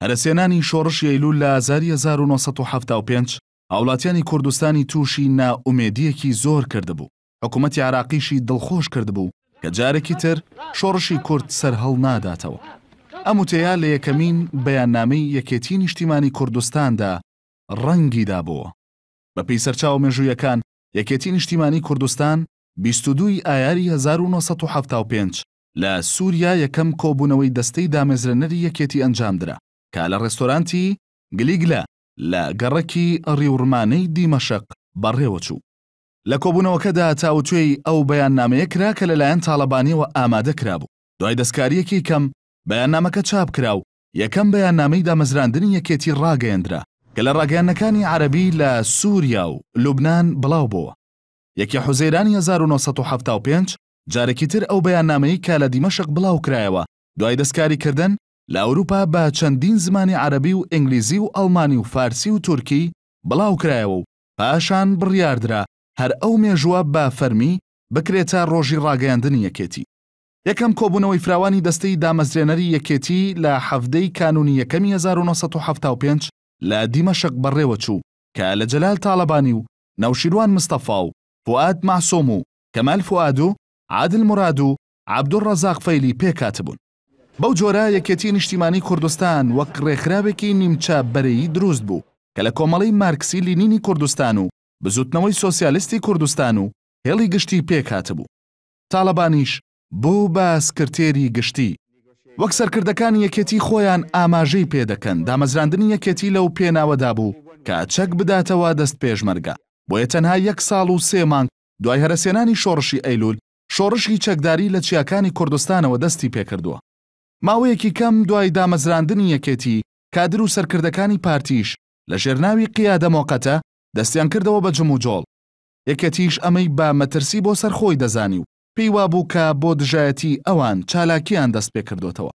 هەرەسهێنانی شۆڕشی ئەیلول لە ئازاری هەزار و نۆ سەد و حەفتا و پێنج هاوڵاتیانی کوردستانی تووشی نائومێدییەکی زۆر کردبوو، حکوومەتی عێراقیشی دڵخۆش کردبوو کە جارێکی تر شۆڕشی کورد سەرهەڵناداتەوە. ئەم وتەیە لە یەکەمین بەیاننامەی یەکێتیی نیشتیمانی کوردستاندا ڕەنگی دابۆوە. بەپێی سەرچاوە مێژوویەکان، یەکێتیی نیشتیمانی کوردستان بیست و دوو ی ئایاری هەزار و نۆ سەد و حەفتا و پێنج لە سووریا یەکەم کۆبوونەوەی دەستەی دامەزرێنەری یەکێتی ئەنجامدرا کە لە ڕێستۆرانتی، گلیگلە، لە گەڕەکی ڕیوڕمانەی دیمەشق بەڕێوەچوو. لە کۆبوونەوەکەدا تاوتوێی ئەو بەیاننامەیە کرا کە لەلایەن تاڵەبانییەوە ئامادە کرابوو. دوای دەستکارییەکی کەم، بەیاننامەکە چاپ کرا و یەکەم بەیاننامەی دامەزراندنی یەکێتی ڕاگەیەندرا، کە لە ڕاگەیاندنەکانی عەرەبی لە سووریا و لوبنان بڵاو بۆوە. یەکی حوزەیرانی هەزار و نۆ سەد و حەفتا و پێنج، جارێکی تر ئەو بەیاننامەی کە لە دیمەشق بڵاوکرایەوە دوای دەستکاریکردن لە ئەوروپا بە چەندین زمانی عەرەبی و ئینگلیزی و ئەڵمانی و فارسی و تورکی بڵاوکرایەوە و پاشان بڕیاردرا هەر ئەو مێژووە بە فەرمی بکرێتە ڕۆژی ڕاگەیاندنی یەکێتی. یەکەم کۆبوونەوەی فراوانی دەستەی دامەزرێنەری یەکێتی لە حەڤدە ی کانوونی یەکەمی هەزار و نۆ سەد و حەفتا و پێنج لە دیمەشق بەڕێوەچوو کە لە جەلال تاڵەبانی و نەوشیروان مستەفا و فوئاد مەعسۆم و کەمال فوئاد و عادل موراد و عەبدولڕەزاق فەیلی پێکهاتبوون. بەو جۆرە یەکێتیی نیشتیمانیی کوردستان وەک ڕێکخراوێکی نیمچە بەرەیی دروست بوو کە لە کۆمەڵەی مارکسی لینینی کوردستان و بزووتنەوەی سۆسیالیستی کوردستان و هێڵی گشتی پێکهاتبوو. تاڵەبانیش بوو بە سکرتێری گشتی. وەک سەرکردەکانی یەکێتی خۆیان ئاماژەی پێ دەکەن، دامەزراندنی یەکێتی لەو پێناوەدا بوو کە چەک بداتەوە دەست پێشمەرگە، بۆیە تەنها یەک ساڵ و سێ مانگ دوای هەرەسێنانی شۆڕشی ئەیلول، شۆڕشی چەکداری لە چیاکانی کوردستانەوە دەستی پێکردووە. ماوەیەکی کەم دوای دامەزراندنی یەکێتی، کادر و سەرکردەکانی پارتیش لە ژێر ناوی قیادە مۆقەتە دەستیان کردەوە بە جموجۆڵ. یەکێتیش ئەمەی بە مەترسی بۆ سەر خۆی دەزانی و پێی وابوو کە بۆ دژایەتیی ئەوان چالاکییان دەست پێ کردۆتەوە.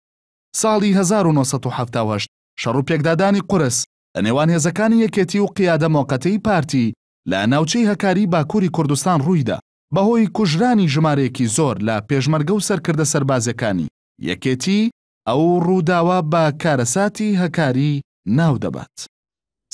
ساڵی هەزار و نۆ سەد و حەفتا و هەشت شەڕ و پێکدادانی قورس لە نێوان هێزەکانی یەکێتی و قیادە مۆقەتەی پارتی لە ناوچەی هەکاری باکووری کوردستان ڕوویدا، بەهۆی کوژرانی ژمارەیەکی زۆر لە پێشمەرگە و سەرکردە سەربازییەکانی یەکێتی، ئەو ڕووداوە بە کارەساتی هەکاری ناو دەبات.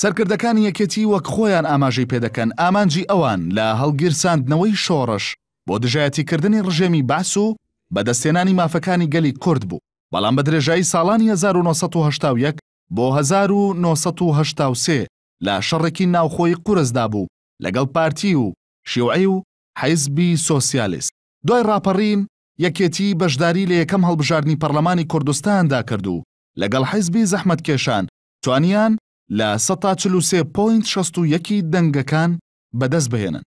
سەرکردەکانی یەکێتی وەک خۆیان ئاماژەی پێ دەکەن، ئامانجی ئەوان لە هەڵگیرساندنەوەی شۆڕش بۆ دژایەتیکردنی ڕژێمی بەعس و بەدەستهێنانی مافەکانی گەلی کورد بوو، بەڵام بە درێژایی ساڵانی هەزار و نۆ سەد و هەشتا و یەک بۆ هەزار و نۆ سەد و هەشتا و سێ لە شەڕێکی ناوخۆی قورسدا بوو لەگەڵ پارتی و شیوعی و حیزبی سۆسیالیست. دوای ڕاپەڕین، یەکێتی بەشداری لە یەکەم هەڵبژاردنی پەڕلەمانی کوردستاندا کرد و لەگەڵ حیزبی زەحمەتکێشان توانیان لە سەد تا چل و سێ پۆینت شەست و یەک ی دەنگەکان بەدەست بهێنن.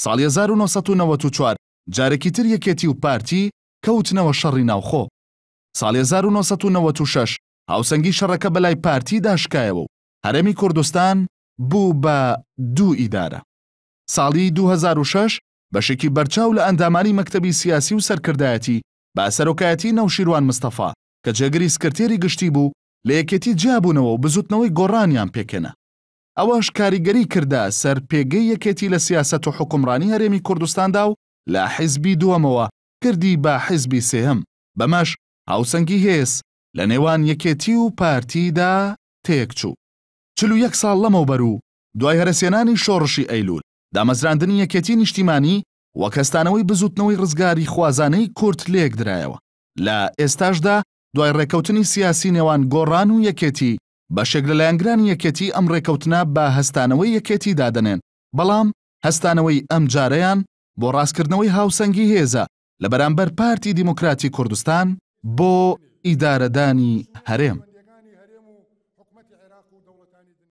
ساڵی هەزار و نۆ سەد و نەوەد و چوار جارێکی تر یەکێتی و پارتی کەوتنەوە شەڕی ناوخۆ. ساڵی هەزار و نۆ سەد و نەوەد و شەش هاوسەنگی شەڕەکە بەلای پارتیدا شکایەوە و هەرێمی کوردستان بوو بە دوو ئیدارە. ساڵی دوو هەزار و شەش بەشێکی بەرچاو لە ئەندامانی مەکتەبی سیاسی و سەرکردایەتی بە سەرۆکایەتی نەوشیروان مستەفا کە جێگری سکرتێری گشتی بوو لە یەکێتی جیابوونەوە و بزوتنەوەی گۆڕانیان پێکهێنا. ئەوەش کاریگەری کردە سەر پێگەی یەکێتی لە سیاسەت و حوکمڕانی هەرێمی کوردستاندا و لە حیزبی دووەمەوە کردی بە حیزبی سێهەم، بەمەش هاوسەنگی هێز لە نێوان یەکێتی و پارتی دا تێکچوو. چل و یەک ساڵ لەمەوبەر و دوای هەرەسهێنانی شۆڕشی ئەیلول، دامەزراندنی یەکێتی نیشتیمانی وەک هەستانەوەی بزووتنەوەی ڕزگاریخوازانەی کورد لێکدرایەوە، لە ئێستاشدا دوای ڕێکەوتنی سیاسی نێوان گۆڕان و یەکێتی، بەشێک لە لایەنگرانی یەکێتی ئەم ڕێکەوتنە بە هەستانەوەی یەکێتی دادەنێن، بەڵام هەستانەوەی ئەمجارەیان بۆ ڕاستکردنەوەی هاوسەنگی هێزە لە بەرامبەر پارتی دیموکراتی کوردستان بۆ ئیدارەدانی هەرێم.